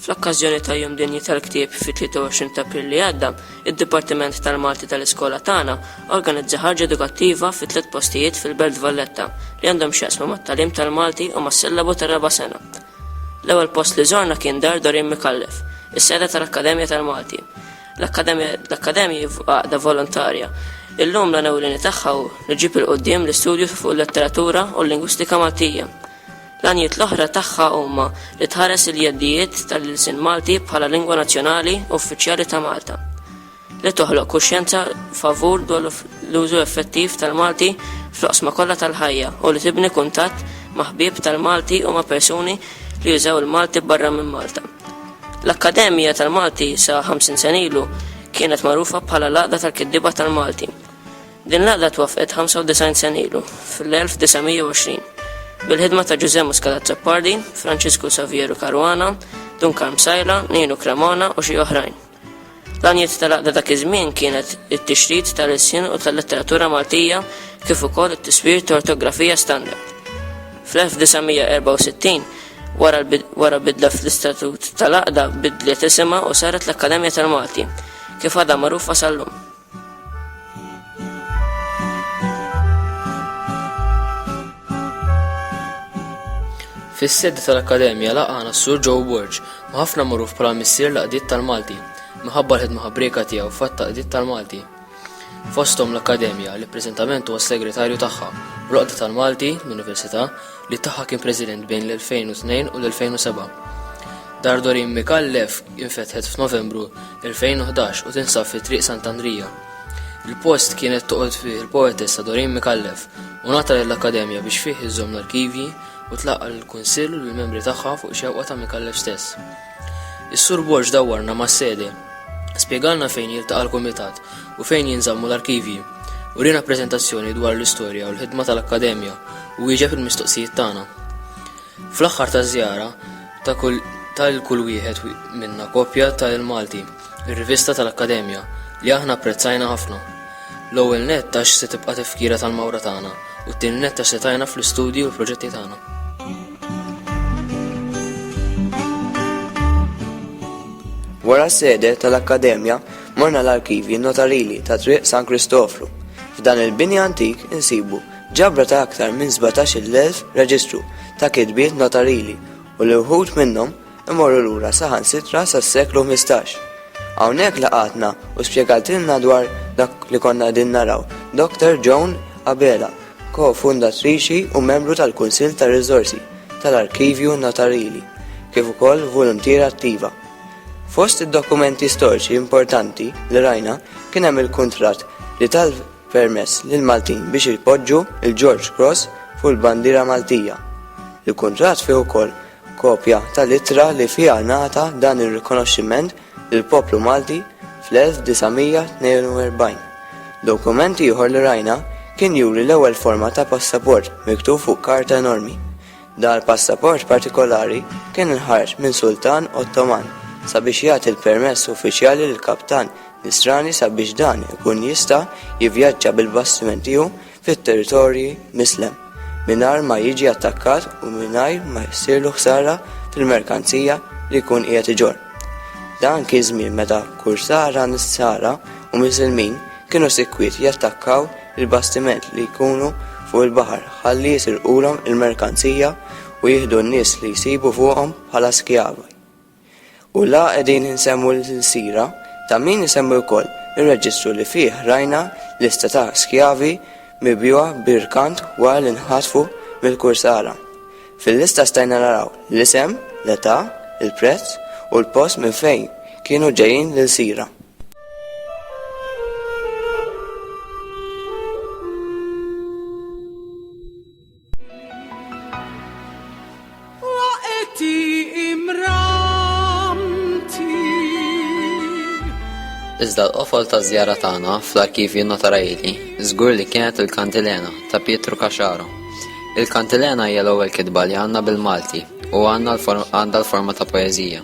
Fl-okkażjoni ta' Jum Dinji tal-Ktieb fit-23 ta' April li għadda, id-Dipartiment tal-Malti tal-Iskola tagħna organizza ħarġa edukattiva fi tliet postijiet fil-Belt Valletta li għandhom x'jaqsmu mat-tagħlim tal-Malti u mas-sillabu tar-raba' sena. L-ewwel post li żorna kien Dar Doreen Micallef, is-sede tal-Akkademja tal-Malti. L-Akkademja hi għaqda volontarja. Illum l-għan ewlieni tagħha hu li ġġib 'il quddiem l-istudju fuq il-letteratura u l-lingwistika Maltija. L-għanijiet l-oħra tagħha huma li tħares il-jeddijiet tal-ilsien Malti bħala lingwa nazzjonali u uffiċjali ta' Malta. li toħloq kuxjenza favur dwar l-użu effettiv tal-Malti fl-oqsma kollha tal-ħajja u li tibni kuntatt ma' ħbieb tal-Malti u ma' persuni li jużaw il-Malti barra minn Malta. L-Akkademja tal-Malti sa 50 sena ilu kienet magħrufa bħala l-Għaqda tal-Kittieba tal-Malti. Din l-għaqda twaffqet 95 sena ilu, fl-1920, bil-ħidma ta' Ġużè Muscat Azzopardi, Franċisku Savieru Caruana, Dun Karm Sajla, Ninu Cremona u xi oħrajn. L-għanijiet tal-Għaqda dak iż-żmien kienet it-tixrid tal-ilsien u tal-letteratura Maltija kif ukoll it-tiswir ta' ortografija standard. Fl-1964, wara bidla fl-istatut tal-Għaqda bidliet isimha u saret l-Akkademja tal-Malti, kif għadha magħrufa sal-lum. Fis-sede tal-Akkademja laqana s-Sur Joe Borg, ma ħafna magħruf bħala missier laqdiet tal-Malti, minħabba l-ħidma ħabrieka tiegħu fatt taqdiet tal-Malti. Fosthom l-Akkademja li preżentament huwa segretarju tagħha, l-Oqda tal-Malti, l-Università, li tagħha kien President bejn l-2002 u l-2007. Dar Dorin Mikallef infetħet f'Novembru 2011 u tinsab fi Triq Sant'Andrija. Il-post kienet toqgħod fih il-poetessa Doreen Mikallef u ngħata lill-Akkademja biex fih iżżomm l-arkivji u tlaqqa' lill-Kunsill u lill-membri tagħha fuq xewqa ta' Mikallef stess. Is-Sur Borg dawwarna mas-sede, spjegalna fejn jiltaqa' l-Kumitat u fejn jinżammu l-arkivji, uriena preżentazzjoni dwar l-istorja u l-ħidma tal-Akkademja u wieġeb il-mistoqsijiet tagħna. Fl-aħħar taż-żjara, ta' 'l kull wieħed minna kopja ta' Il-Malti, ir-rivista tal-Akkademja, li aħna apprezzajna ħafna. L-ewwel nett għax se tibqa' tifkira tal-mawra tagħna u t-tieni nett għax se tgħinna fl-istudji u l-proġetti tagħna. Wara s-sede tal-Akkademja morna l-arkivji notarili ta' Triq San Kristofru. F'dan il-bini antik insibu Ġabra ta' aktar minn 17-il elf reġistru ta' kitbiet notarili u li wħud minnhom imorru lura saħansitra sas-seklu ħmistax. Hawnhekk laqgħatna u spjegatilna dwar dak li konna qegħdin naraw Dr. Joan Abela, ko-fundatriċi u membru tal-Kunsill tar-Riżorsi tal-Arkivju Notarili, kif ukoll voluntiera attiva. Fost id-dokumenti storiċi importanti li rajna kien hemm il-kuntratt li tal permess lill-Maltin biex ipoġġu l-George Cross fuq il-bandiera Maltija. Il-kuntratt fih ukoll kopja tal-ittra li fiha ngħata dan ir-rikonoxximent lill-poplu Malti fl-1942. Dokument ieħor li rajna kien juri l-ewwel forma ta' passaport miktub fuq karta enormi. Dan il-passaport partikolari kien inħareġ minn Sultan Ottoman sabiex jagħti l-permess uffiċjali lill-kaptan Nisrani sabiex dan ikun jista' jivvjaġġa bil-bastiment tiegħu fit-territorji Mislem mingħajr ma jiġi attakkat u mingħajr ma jsirlu ħsara fil-merkanzija li jkun qiegħed iġorr. Dan kien żmien meta kursara Nisara u Miżilmin kienu sikwit jattakkaw il-bastiment li jkunu fuq il-baħar ħalli jisirqulhom il-merkanzija u jieħdu n-nies li jsibu fuqhom bħala skjavi. U la qegħdin insemmu l-ilsira ta' min isemmi wkoll ir-reġistru li fih rajna lista ta' skjavi mibjugħa b'irkant wara li nħatfu mill-kursara. Fil-lista stajna naraw l-isem, l-età, il-prezz u l-post minn fejn kienu ġejjin l-ilsira. Iżda l-qofol ta' żjara tagħna fl-arkivji notarajili żgur li kienet il-Kantilena ta' Pietru Kaxaro Il-Kantilena hija l-ewwel kitba li għandna bil-Malti u għandha l-forma ta' poeżija.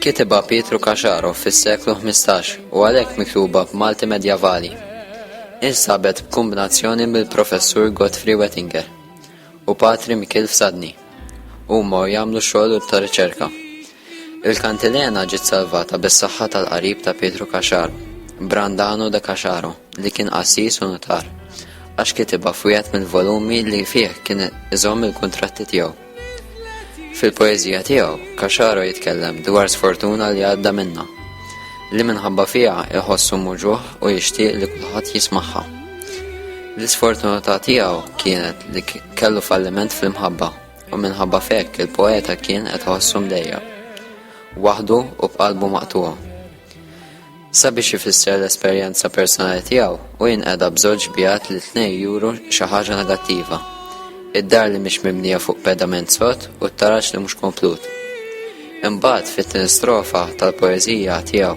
Kitibha Pietru Kaxaro fis-seklu 15 u għalhekk miktuba b'Malti Medjavali. Insabet b'kombinazzjoni mill-Professur Godfrey Wettinger u Patri Mikil Fsadni. Huma jagħmlu xogħol ta' riċerka. Il-kantilena ġiet salvata bis-saħħa tal-qarib ta' Pietru Caxar, Brandano de Caxaro, li kien qassis u nutar, għax kitibha f'wieħed mill-volumi li fih kien iżomm il-kuntratti tiegħu. Fil-poeżija tiegħu, Caxaro jitkellem dwar sfortuna li għadda minnha, li minħabba fiha iħossu muġugħ u jixtieq li kulħadd jismagħha. L-isfortunità tiegħu kienet li kellu falliment fl-imħabba. u minħabba fekk il-poeta kien qed ħossu mdejja. Waħdu u b'qalbu maqtuha. Sabiex ifisser l-esperjenza personali tiegħu u jinqeda b'żewġ bijat li tnej juru xi ħaġa negattiva. Id-dar li mhix mibnija fuq pedament sod u t-taraġ li mhux komplut. Imbagħad fit-tieni strofa tal-poeżija tiegħu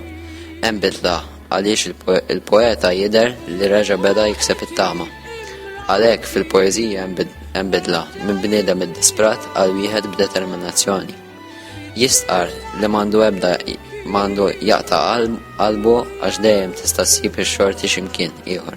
hemm bidla għaliex il-poeta jidher li reġa' beda jikseb it-tama. Għalhekk fil-poeżija hemm bidla minn bniedem iddisprat għal wieħed b'determinazzjoni. Jistqar li m'għandu ebda m'għandu jaqta' qalbu għax dejjem tista' ssib ix-xorti x'imkien ieħor.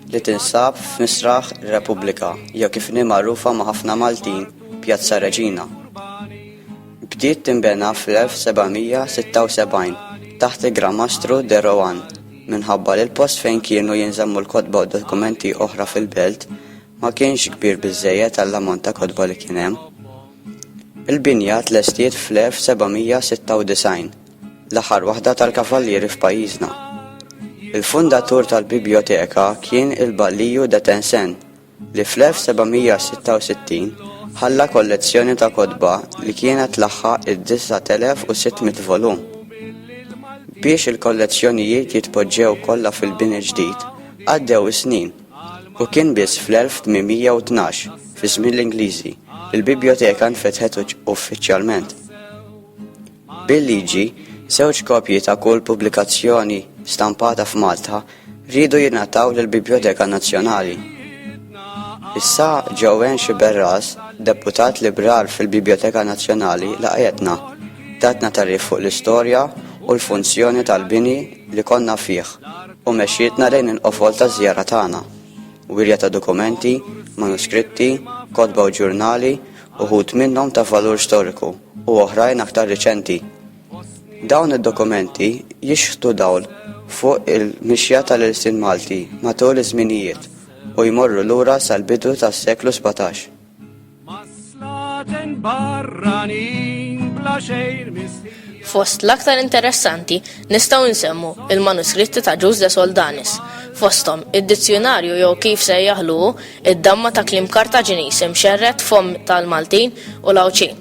li tinsab f'Misraħ Repubblika jew kif inhi magħrufa ma' ħafna Maltin Pjazza Reġina. Bdiet tinbena fl-1776 taħt il-Gramastru de Rohan minħabba li l-post fejn kienu jinżammu l-kotba u dokumenti oħra fil-belt ma kienx kbir biżejjed għall-ammont ta' kotba li kien hemm. Il-binja tlestiet fl-1796 l-aħħar waħda tal-kavallieri f'pajjiżna. Il-fundatur tal-bibljoteka kien il-Balliju de Tencen, li fl-1766 ħalla kollezzjoni ta' kotba li kienet tlaħħaq id-9600 volum. Biex il-kollezzjonijiet jitpoġġew kollha fil-bini ġdid, għaddew is-snin, u kien biss fl-1812, fi żmien l-Ingliżi, li l-bibljoteka nfetħet uffiċjalment. Bil-liġi, żewġ kopji ta' kull pubblikazzjoni stampata f'Malta riedu jingħataw lill-Bibljoteka Nazzjonali. Issa Joanne Sciberras, deputat Libral fil-Bibljoteka Nazzjonali laqgħetna, tatna tagħrif fuq l-istorja u l-funzjoni tal-bini li konna fih u mexxietna lejn il-qofol taż-żjara tagħna, wirja ta' dokumenti, manuskritti, kotba u ġurnali, uħud minnhom ta' valur storiku u oħrajn aktar riċenti. Dawn id-dokumenti jixħtu dawl fuq il-mixja tal-ilsien Malti matul iż-żminijiet u jmorru lura sal-bidu tas-seklu sbatax. Fost l-aktar interessanti nistgħu nsemmu il-manuskritti ta' Ġuż de Soldanis, fosthom id-dizzjunarju jew kif sejjaħlu hu Id-damma ta' kliem Kartaġiniż imxerred f'fomm tal-Maltin u l-Għawdxin,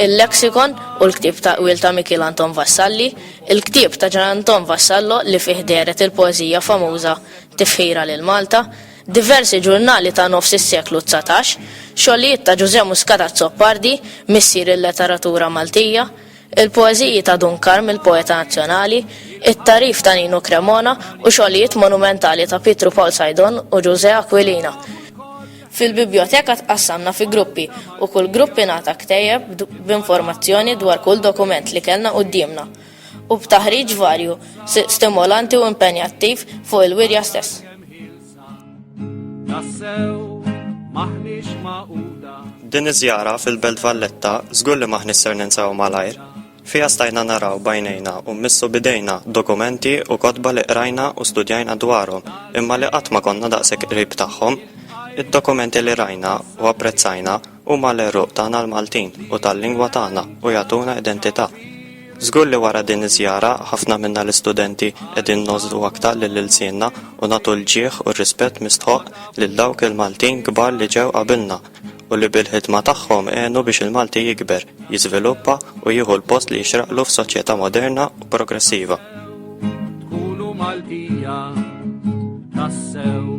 il-Lexicon u l-ktieb ta' qwiel ta' Mikiel Anton Vassalli, il-ktieb ta' Ġan Anton Vassallo li fih dehret il-poeżija famuża Tifħira lil Malta, diversi ġurnali ta' nofs is-seklu dsatax, xogħlijiet ta' Ġużè Muscat Azzopardi, missier il-letteratura Maltija, Il-poeżiji ta' Dun Karm il-poeta nazzjonali, it-tagħrif ta' Nino Cremona u xogħlijiet monumentali ta' Pietru Pawl Saidon u Ġużè Aquilina. Fil-bibljoteka tqassamna fi gruppi u kull grupp ingħata ktejjeb b'informazzjoni dwar kull dokument li kellna quddiemna u b'taħriġ varju, stimolanti u impenjattiv fuq il-wirja stess. Din iż-żjara fil-Belt Valletta żgur li maħniex ser ninsew malajr. Fiha stajna naraw b'għajnejna u mmissu b'idejna dokumenti u kotba li qrajna u studjajna dwarhom imma li qatt ma konna daqshekk qrib tagħhom. Id-dokumenti li rajna u apprezzajna Huma l-għeruq tagħna l-Maltin u tal-lingwa tagħna u jagħtuna identità. Żgur li wara din iż-żjara ħafna minna l-istudenti qegħdin ngħożżu aktar lil ilsienna u nagħtu l-ġieħ u r-rispett mistħoqq lil dawk il-Maltin kbar li ġew qabilna u li bil-ħidma tagħhom għenu biex il-Malti jikber, jiżviluppa u jieħu l-post li jixraqlu f'soċjetà moderna u progressiva. Tkunu Maltija tassew.